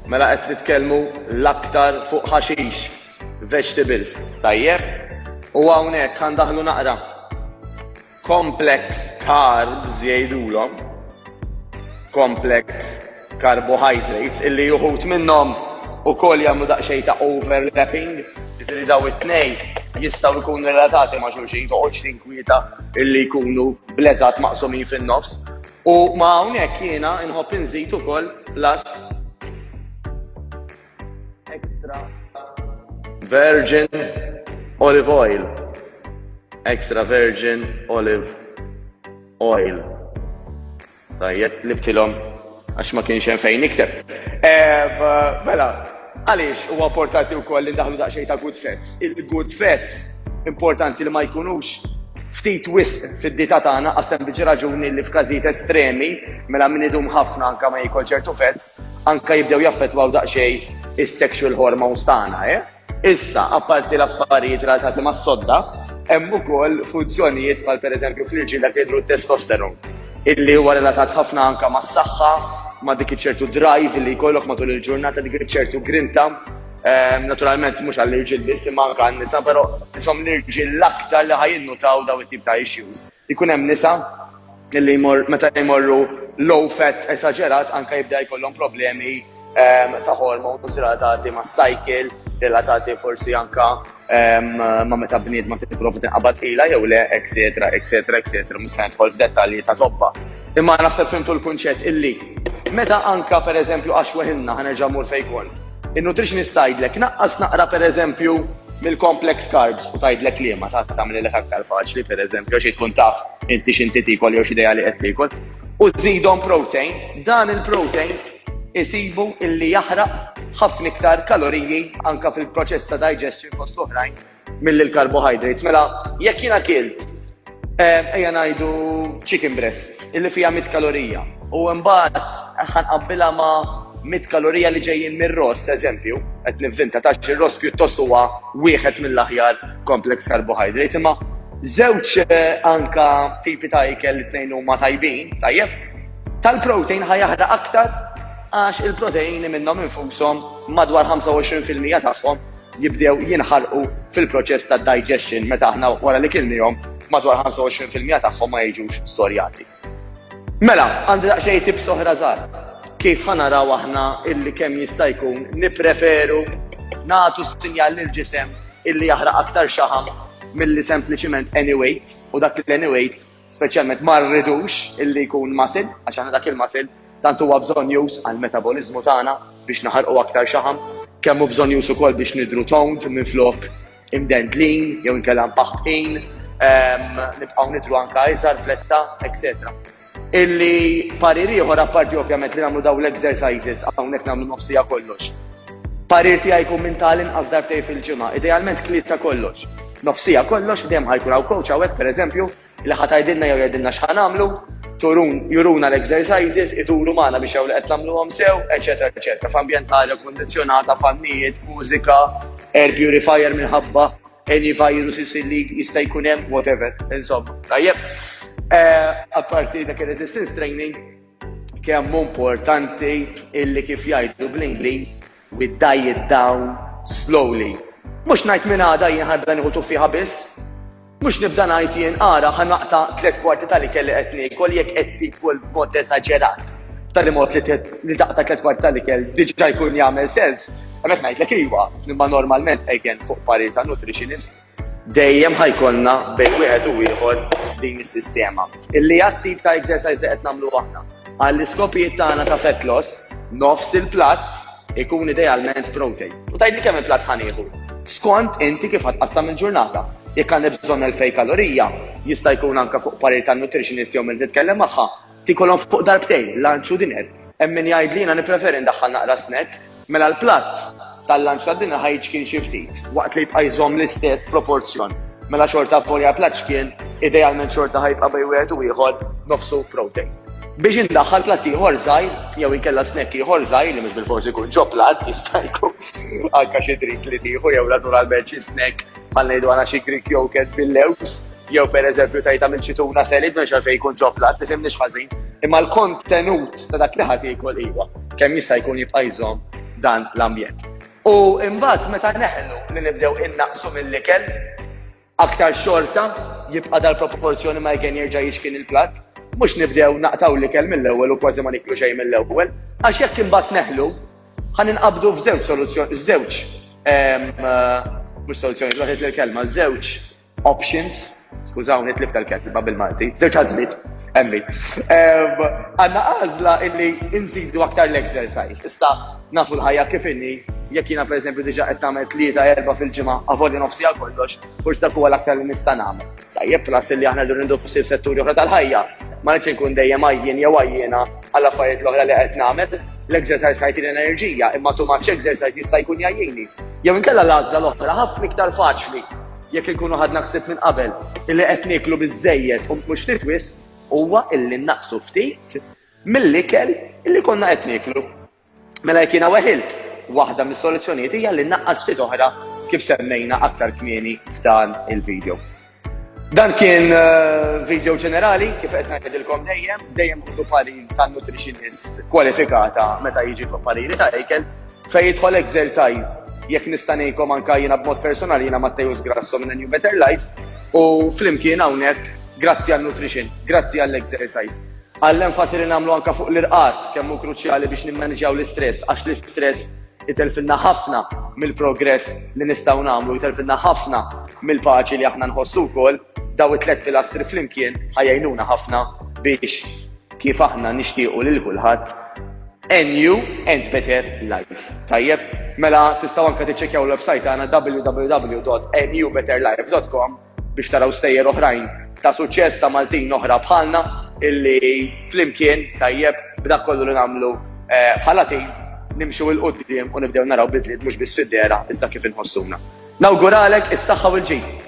Mela qed nitkellmu l-aktar fuq ħaxix, vegetables. Tajjeb. U hawnhekk ħa ndaħħlu naqra complex carbs jgħidulhom, complex carbohydrates illi uħud minnhom ukoll jagħmlu daqsxejn ta' overlapping, jiġri daw it-tnejn jistgħu jkunu relatati ma' xulxin toqgħodx tinkwieta illi jkunu bleżat maqsumin fin-nofs U ma' hawnhekk jiena nħobb inżid ukoll plus extra virgin olive oil. Extra virgin olive oil. Tajjeb, libtilhom għax ma kienx hemm fejn nikteb. Eh, mela, Għaliex huwa importanti wkoll li ndaħlu daqsxejn ta' good facts? Il-good facts importanti li ma jkunux ftit wisq fid-dita tagħna għas sempliċi raġuni li f'każijiet estremi mela min idum ħafna anke ma jiekol ċertu fats anke jibdew jaffettwaw daqsxejn is-sexual hormones tagħna, eh? Issa, apparti l-affarijiet relatati mas-sodda, hemm ukoll funzjonijiet bħal pereżempju fl-irġiel dak li jidhru t-testosterone. illi huwa relatat ħafna anke mas-saħħa, ma' dik iċ-ċertu drive li jkollok matul il-ġurnata, dik iċ-ċertu grinta. Ehm, naturalment mhux għall-irġiel biss imma anke għan-nisa, però isom l-irġiel l-aktar li ħajinnutaw daw it-tip ta' issues. Ikun hemm nisa illi jmor meta jmorru low fat esaġerat anke jibda jkollhom problemi ehm, ta' hormones relatati mas-cycle, relatati forsi anke ma meta bniedma tipprova tinqabad ila jew le, etc. etc. etc. Mhux se nidħol f'dettalji ta' tobba. Imma naħseb fimtu l-kunċett illi meta anka pereżempju għax weħilna ħanerġa' mur fejn kont. In-nutritionist tgħidlek naqqas naqra pereżempju mill-complex carbs u tgħidlek liema ta' tagħmlilek aktar faċli pereżempju għax tkun taf inti x'inti tiekol jew x'idea li qed tiekol. U żidhom protein, dan il-protein isibu illi jaħraq ħafna iktar kaloriji anke fil-proċess ta' digestion fost l-oħrajn milli l-carbohydrates. Mela, jekk jiena kilt, eh, ejja ngħidu chicken breast, illi fiha 100 kalorija, u mbagħad ħanqabbilha ma' 100 kalorija li ġejjin mir-ross, eżempju, qed nivvinta tax ir-ross pjuttost huwa wieħed mill-aħjar complex carbohydrates, imma żewġ eh, anka tipi ta' ikel li tnejn huma tajbin, tajjeb, Tal-protein ħa jaħraq aktar għax il-proteini minnhom infushom madwar 25 fil-mija tagħhom jibdew jinħarqu fil-proċess tad-digestion meta aħna wara li kilniehom madwar 25 fil-mija tagħhom ma jiġux storjati. Mela, għandi daqsxejn tips oħra żgħar kif ħa naraw aħna illi kemm jista' jkun nippreferu nagħtu s-sinjal lill-ġisem illi jaħraq aktar xaħam milli sempliċiment any weight u dak l-any weight speċjalment ma rridux illi jkun muscle, għax aħna dak il-muscle tant huwa bżonnjuż għall-metaboliżmu tagħna biex naħarqu aktar xaħam, kemm hu bżonnjuż ukoll biex nidhru toned minflok imdendlin jew inkella mpaħħbqin, ehm, nibqgħu nidhru anke iżgħar fletta, etc. Illi parir ieħor apparti ovvjament li nagħmlu dawn l-exercises hawnhekk nagħmlu nofsija kollox. Parir tiegħi jkun minn ta' l-inqas darbtejn fil-ġimgħa, idealment kliet ta' kollox. Nofsija kollox, dejjem ħa jkun hawn coach hawnhekk pereżempju, li ħa tgħidilna jew jgħidilna x'ħa nagħmlu, turun, juruna l-exercises, iduru magħna biex jew li qed nagħmluhom sew, eċċetera eċċetera, f'ambjent ta' arja kkundizzjonata, fannijiet, mużika, air purifier minħabba any viruses li jista' jkun hemm, whatever, insomma. Tajjeb, apparti dak ir-resistance training, Kemm hu importanti illi kif jgħidu bl-Ingliż we die it down slowly. Mhux ngħid minn għada jien ħanibda nieħu tuffieħa biss. Mhux nibda ngħid jien ara ħa naqta' tliet kwarti tal-ikel li qed niekol jekk qed tiekol b'mod eżaġerat. B'tali mod li taqta' tliet kwarti tal-ikel diġà jkun jagħmel sens. Hemmhekk ngħidlek iva, imma normalment again fuq parir ta' nutritionist. Dejjem ħajkollna bejn wieħed u ieħor din is-sistema. Illi għat-tip ta' exercise li qed nagħmlu aħna. Għall-iskopijiet tagħna ta' fat loss, nofs il-platt ikun idealment protein. U tgħidli kemm il-platt ħanieħu. Skont inti kif ħatqassam il-ġurnata. Jekk għandi bżonn 2000 kalorija, jista' jkun anke fuq parir tan-nutritionist jew min nitkellem magħha, Tikolhom fuq darbtejn, lunch u dinner. Hemm min jgħid li jiena nippreferi ndaħħal naqra snack. Mela l-platt tal-lunch u tad-dinner ħa jiċkien xi ftit. Waqt li jibqa' jżomm l-istess proporzjon. Mela xorta avvolja l-platt ċkien, idealment xorta ħa jibqa' bejn wieħed u ieħor nofsu protein. Biex indaħħal platt ieħor żgħir jew inkella snack ieħor żgħir li mhux bilfors ikun ġo platt, jista' jkun anke xi drink li tieħu jew naturalment xi snack Bħal ngħidu għana xi Greek yogurt bil-lewks, jew per eżempju tajta minn xi tuna selid minn xalfej jkun ġoplat, tifhimni ħażin. Imma l-kontenut ta' dak li ħadd jikol iwa, kemm jista' jkun jibqa' jżomm dan l-ambjent. U imbagħad meta neħlu li nibdew innaqsu mill-ikel, aktar xorta jibqa' dal-proporzjoni ma jgen jerġa' jixkin il-platt, mhux nibdew naqtaw l-ikel mill-ewwel u kważi ma niklu xejn mill-ewwel, għax jekk imbagħad neħlu, Ħa ninqabdu f'żewġ soluzzjoni, żewġ mhux soluzzjoni, waħed l-kelma, żewġ options, skużawni tlif tal-kelma bil-Malti, żewġ għażliet, emmi. Għandna għażla illi nżidu aktar l-exercise. Issa nafu l-ħajja kif inni, jekk jiena pereżempju diġà qed tagħmel tlieta erba' fil-ġimgħa, avolja nofsi għal kollox, forsi dak huwa l-aktar li nista' nagħmel. Tajjeb plus illi aħna rridu ninduħ ħsieb setturi oħra tal-ħajja. Ma rridx inkun dejjem għajjien jew għajjiena għall-affarijiet l-oħra li qed nagħmel. L-exercise ħajtini l-enerġija, imma too much exercise jista' jkun jgħajjini. Jew inkella l-għażla l-oħra ħafna iktar faċli jekk inkunu ħadna ħsieb minn qabel illi qed nieklu biżżejjed u mhux ftit wisq huwa illi nnaqqsu ftit mill-ikel illi konna qed nieklu. Mela jekk jiena weħilt, waħda mis-soluzzjonijiet hija li naqqas ftit oħra kif semmejna aktar kmieni f'dan il-video. Dan kien eh, video ġenerali, kif qed ngħidilkom dejjem, dejjem ħudu pari ta' nutritionist kwalifikata meta jiġi fuq pariri ta' ikel, fejn jidħol exercise jekk nista' ngħidkom anke jiena b'mod personali jiena Matteus Grasso minn New Better Life u flimkien hawnhekk grazzi għal nutrition, grazzi għall exercise. Għall-enfasi li nagħmlu anke fuq l-irqad, kemm hu kruċjali biex nimmaniġjaw l-istress, għax l-istress itelfilna ħafna mill-progress li nistgħu nagħmlu, jtelfilna ħafna mill-paċi li aħna nħossu wkoll, dawn it-tliet pilastri flimkien ħa jgħinuna ħafna biex kif aħna nixtiequ lil kulħadd a new and better life. Tajjeb, mela tistgħu anke tiċċekkjaw l-website tagħna www.anewbetterlife.com biex taraw stejjer oħrajn ta' suċċess ta' Maltin oħra bħalna illi flimkien tajjeb b'dak kollu li nagħmlu bħala tim nimxu 'l quddiem u nibdew naraw bidliet mhux biss fid-dehra iżda kif inħossuna. Nawguralek is-saħħa u l-ġid!